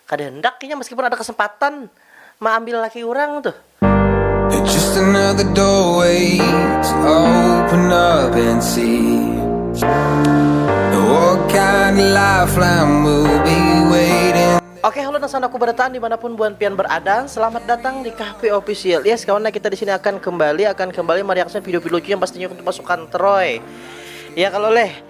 Kada handak inya meskipun ada kesempatan maambil laki urang tuh. Oke halo nang sandaku barataan dimanapun buan pian berada selamat datang di Kahpe Official yes kawan nah kita disini akan kembali akan kembali mereaction video video lucu yang pastinya untuk pasukan troy ya kalo leh.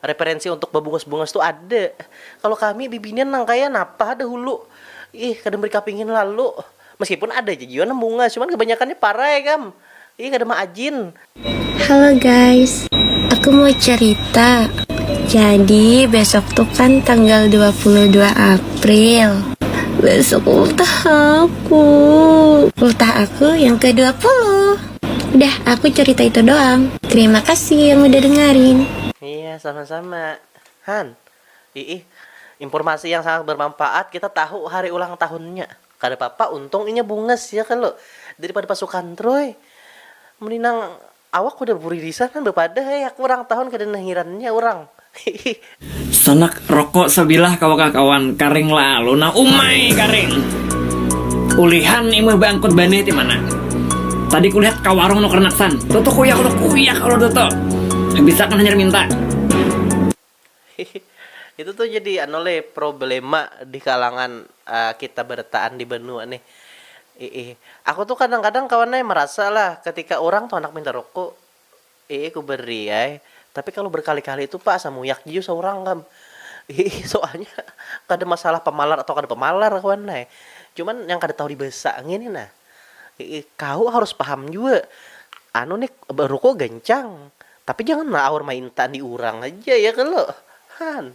Referensi untuk babungas-bungas tu ada. Kalo kami bibinian nang kaya napa dahulu. Ih, kada meri kapingin lalu. Meskipun ada ja jua nang bungas, cuman kabanyakannya parai kam. Ih, kada maajin. Halo guys, aku mau cerita. Jadi besok tu kan tanggal dua puluh dua April. Besok ultah aku. Ultah aku yang ke dua puluh. Dah, aku curita itu doang. Terima kasih yang udah dengarin. Iya, sama-sama. Han, iih, impurmasi yang sangat bermanfaat, kita tahu hari ulang tahunnya. Kada papa, untung inya bungas ya kalo, daripada pasukan troy. Mending nang awak udah buririsan han bapadah, eh aku urang tahun kada nahirannya urang. Sanak rokok sabilah kawa kah kawan, karing lalu nah umai karing. Ulihan imah baangkut banih ti mana. Tadi kulihat ka warung nukar naksan. Tutu kuyak udah kuyak kalo tutu. Habis akan hanyar minta. Itu tuh jadi anu leh problema di kalangan kita barataan di banua nih. Iih. Aku tuh kadang-kadang kawan ai marasa lah ketika urang tuh handak minta rokok. Iih ku beri ai, tapi kalu berkali-kali itu pak asa muyak jua saurang kam. Iih soalnya kada masalah pamalar atau kada pamalar kawan nai, cuman yang kada tahu dibasa ngini nah. Iih kahu harus paham jua anu nih beruku gancang tapi jangan aur mainta di urang haja ya kalo han.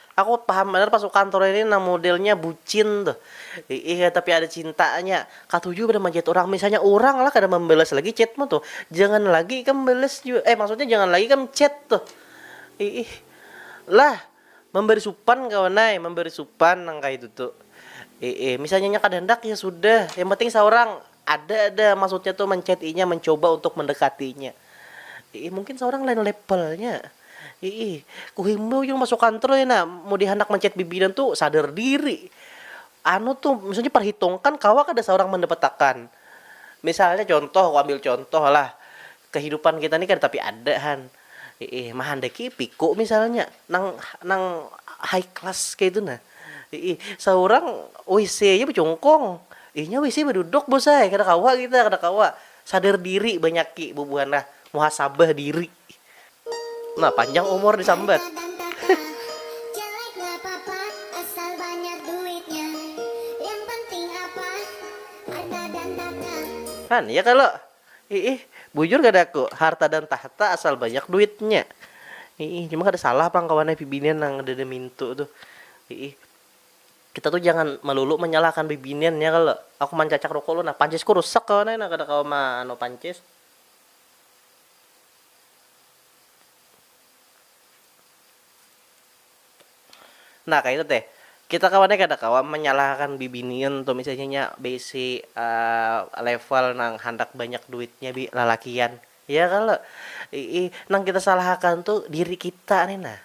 Aku paham banar pasukan Troy ini nang modelnya bucin tuh. Iih ya tapi ada cintanya. Katuju banar manchat urang. Misalnya urang lah kada mambalas lagi chatmu tuh. Jangan lagi ikam balas jua. Eh maksudnya jangan lagi ikam chat tuh. Iih. Lah. Mambari supan kawan ai. Mambari supan nang kaya itu tuh. Iih. Misalnya inya kada handak ya sudah. Yang penting saurang. Ada dah maksudnya tuh menchat inya mencoba untuk mendekati inya. Iih mungkin saurang lain levelnya. Iih kuhimbau jua masuk kantor ya nah mun dihandak menchat bibinan tu sadar diri. Anu tuh maksudnya perhitungkan kawa kada saurang mendapatakan. Misalnya contoh kuambil contoh lah kehidupan kita ni kada tapi ada han. Hiih, mahandaki piku misalnya nang nang high class kaytu nah. Hiih, saurang wc aja bacungkung. Inya wc baduduk bos ai, kada kawa kita, kada kawa. Sadar diri banyaki bubuhan nah, muhasabah diri. Nah, panjang umur disambat. Kan, ya kalo? Iih, bujur kada ku, harta dan tahta asal banyak duitnya. Iih, cuma kada salah pang kawan ai bibinian nang ada di mintu tuh. Iih, kita tuh jangan melulu menyalahkan bibinian ya kalo. Aku mancacak ruko ulun, nah pancisku rusak kawan ai nah kada kawa ma anu pancis. Nah kaitu teh, kita kawan ai kada kawa manyalahakan bibinian tu misalnya inya baisi level nang handak banyak duitnya bi lalakian ya kalo iih, nang kita salahakan tu diri kita ni nah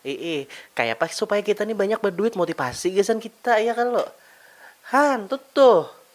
iih, kayapa supaya kita ni banyak baduit motivasi gasan kita ya kalo, han tuh tuh.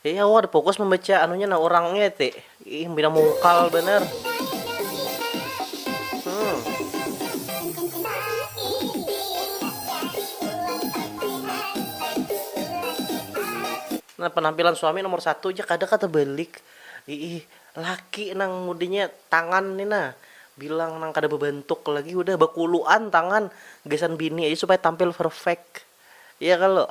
Iya wah fokus membaca anunya nah orangnya ti. Ih bina mungkal bener. Hmm. Nah penampilan suami nomor satu aja kada kata balik. Ih laki nang mudanya tangan ni nah bilang nang kada bebentuk lagi udah bakuluan tangan gasan bini aja supaya tampil perfect. Iya kalo?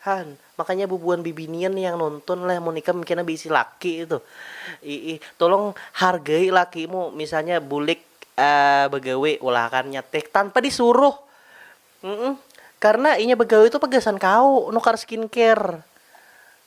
Han, makanya bubuhan bibinian nih yang nuntun leh mun ikam kena beisi laki itu. Iih, tulung hargai lakimu misalnya bulik bagawe ulakannya teh tanpa disuruh. Humm, karena inya bagawe tu apa gasan kaw nukar skincare.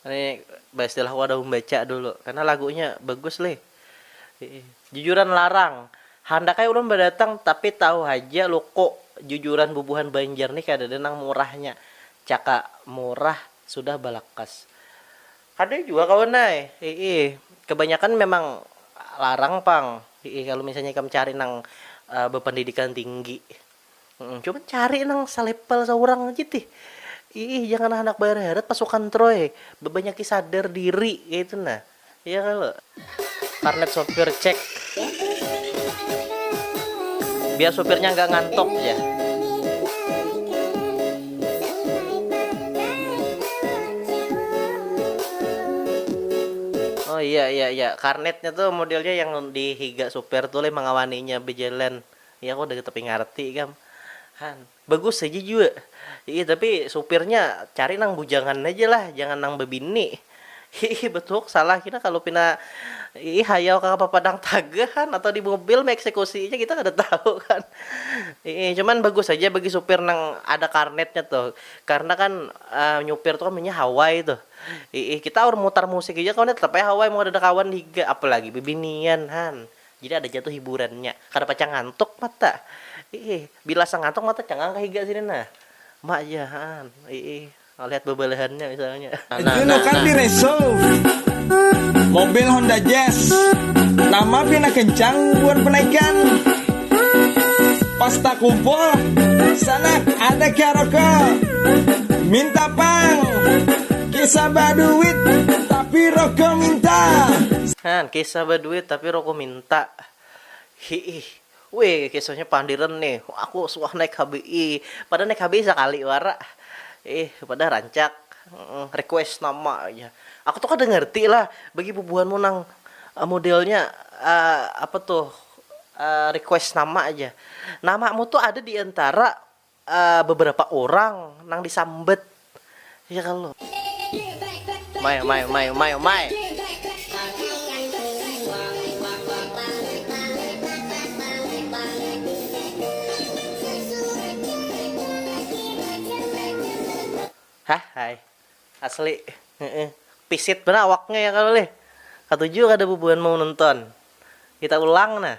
Ini baistilah wadah umbaca dulu karena lagunya bagus lih jujuran larang handak ai ulun badatang tapi tahu haja luku jujuran bubuhan banjar nih kadada nang murahnya caka murah sudah balakas kada jua kawan ai hiih kabanyakan memang larang pang hiih kalu misalnya ikam cari nang bapandidikan tinggi. Cuman cari nang salepel saurang aja tih. Iih jangan handak baheret-heret pasukan troy, bebanyaki sadar diri kaitu nah. Iya kalo. Karnet sopir cek. Biar supirnya nggak ngantuk jar. Oh iya iya iya karnetnya tuh modelnya yang di higa supir tuh leh mangawaninya bejalan. Inya kok udah tapi ngarti kam. Han. Bagus haja jua. Hiih tapi supirnya cari nang bujangan haja lah, jangan nang babini. Hiih batuhuk salah kita kalu pina hiih hayau ka papadang taga han atau di mobil meeksekusiinya kita kada tahu kan. Hiih cuman bagus haja bagi supir nang ada karnetnya tuh karna kan nyupir tu kan biasanya hawai tuh. Hiih kita aur mutar musik haja kawan nih tetap haja hawai mun kadada kawan di higa apalagi bibinian han. Jadi ada ja tu hiburannya. Kada pacang ngantuk mata. Iih. Bila asa ngantuk mata cangang ka higa sini nah. Ma ja haan. Iih. Malihat babalahannya misalnya. Juno Cartire Souv, mobil Honda Jazz nama pina kencang buhan penaikan. Pas takumpul, sanak ada karaoke, minta pang. Kisah baduit tapi roko minta. Nah, kisah baduit tapi roko minta. Hiih. Wih, kisahnya pandiran nih. Aku suah naik HBI. Pada naik HBI sakali wara. Ih, pada rancak. Request nama aja. Aku tuh kada ngerti lah bagi bubuhanmu nang modelnya apa tuh request nama aja. Namamu tuh ada diantara beberapa urang nang disambat ya kalo. Mai mai mai mai mai. Hah hai asli heeh pisit banar awaknya ya kalo leh katuju kada bubuhan mau nonton kita ulang nah.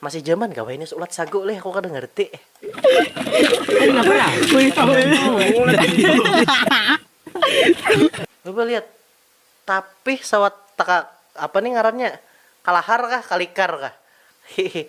Masih jaman kah wahini ulat sagu leh aku kada ngerti. Coba lihat tapih sawat takak apa nih ngarannya kalahar kah kalikar kah hihi.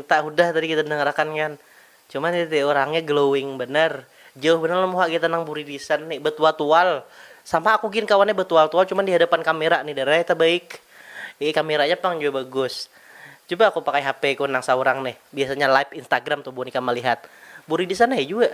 Kita hudah tadi kita dengar akan kan. Cuma ni tadi urangnya glowing banar. Jauh banar lawan muha kita nang buridisan ni. Batual-tual. Sama aku gin kawannya batual-tual cuma di hadapan kamera ni darah tabaik. Iih kameranya pang jua bagus. Cuba aku pakai HP ku nang saurang nih. Biasanya live Instagram tu buhan ikam malihat. Buridisan ai jua.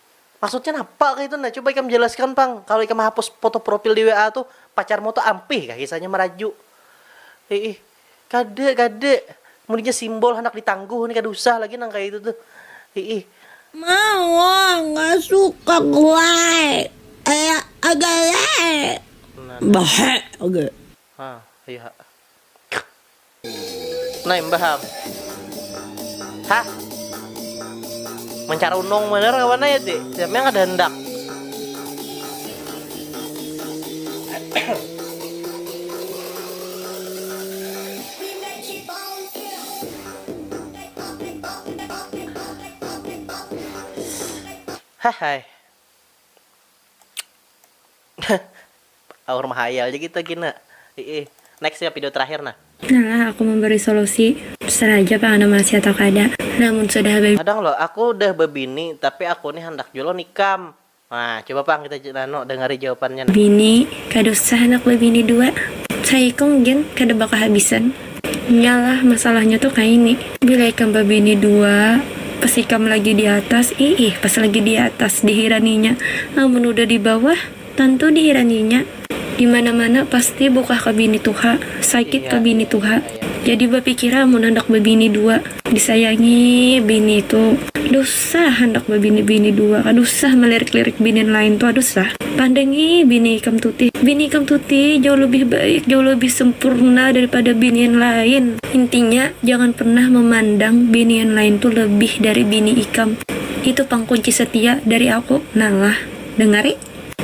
Maksudnya napa kaya itu nah, coba ikam jelaskan pang, kalo ikam hapus foto profil di WA tuh pacarmu tuh ampih kah kisahnya maraju. Hiih. Kada, kada. Munnya simbol handak ditangguh nih kada usah lagi nang kaya itu tuh. Hiih. Mauuh nggak suka guai ea aja leh. Nah, dah. Bahe oge. Hah, ayu ha. Nah imbah am. Hah. Mencarunung bener kawan ya ti. Siapnya kada hendak. Hah hai. Aur mahayal ja kita gin nah. Hiih. Next ya pido terakhir nah. Nalah aku memberi solusi. Terserah haja pang anda masih atau kada. Nah mun sudah habis. Kadang lo, aku dah bebini tapi aku ni handak jua lo nikam. Nah, coba pang kita anu dengari jawapannya nah. Bini, kada usah handak bebini dua. Cai ikung gin kada bakahabisan. Nya lah masalahnya tu kaini. Bila ikam bebini dua, pas ikam lagi di atas, iih pas lagi di atas dihiraninya. Amun udah di bawah. Tantu dihiranginya, di mana-mana pasti bukah ka bini tuha, sakit ka bini tuha. Jadi bapikira amun handak babini dua, disayangi bini tu dusah handak babini bini dua ka dusah malirik-lirik binin lain tu aduh sah. Pandangi bini ikam tuti, bini ikam tuti jauh lebih baik, jauh lebih sempurna daripada binian lain. Intinya jangan pernah memandang binian lain tu lebih dari bini ikam. Itu pang kunci setia dari aku, Nala. Dangari.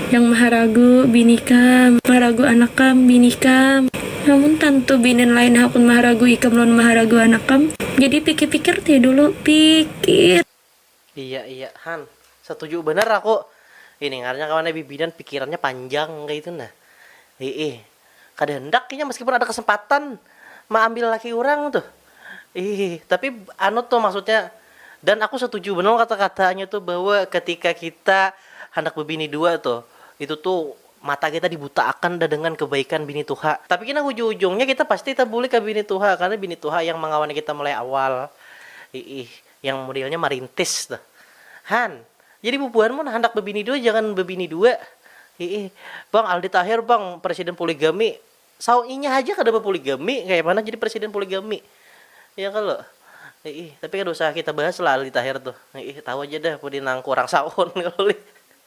Nang maharagu bini kam. Maharagu anak kam, bini kam. Namun tantu binin lain hakun maharagu ikam lawan maharagu anak kam. Jadi pikir-pikir tih dulu. Pikir. Iya iya han, satuju banar aku. Ini ngarannya kawannya bibinan pikirannya panjang kaya itu nah. Hiih. Kada handak inya meskipun ada kesempatan maambil laki urang tuh. Ih, tapi anu tuh maksudnya dan aku setuju banar kata-katanya tuh bahwa ketika kita handak bebini dua tuh, itu tuh mata kita dibutaakan dah dengan kebaikan bini tuha. Tapi kena hujung-hujungnya kita pasti tabulik ka bini tuha karena bini tuha yang mangawani kita mulai awal. Iih. Yang modelnya marintis tuh. Han, jadi bubuhan mun handak bebini dua jangan bebini dua. Hiih, bang Aldi Taher bang presiden poligami. Saw inya haja kada bapoligami kaya mana jadi presiden poligami. Ya kalo. Hiih, tapi kada usah kita bahas lah Aldi Taher tuh. Hiih, tahu aja dah pudi nang kurang saw on kalo lih.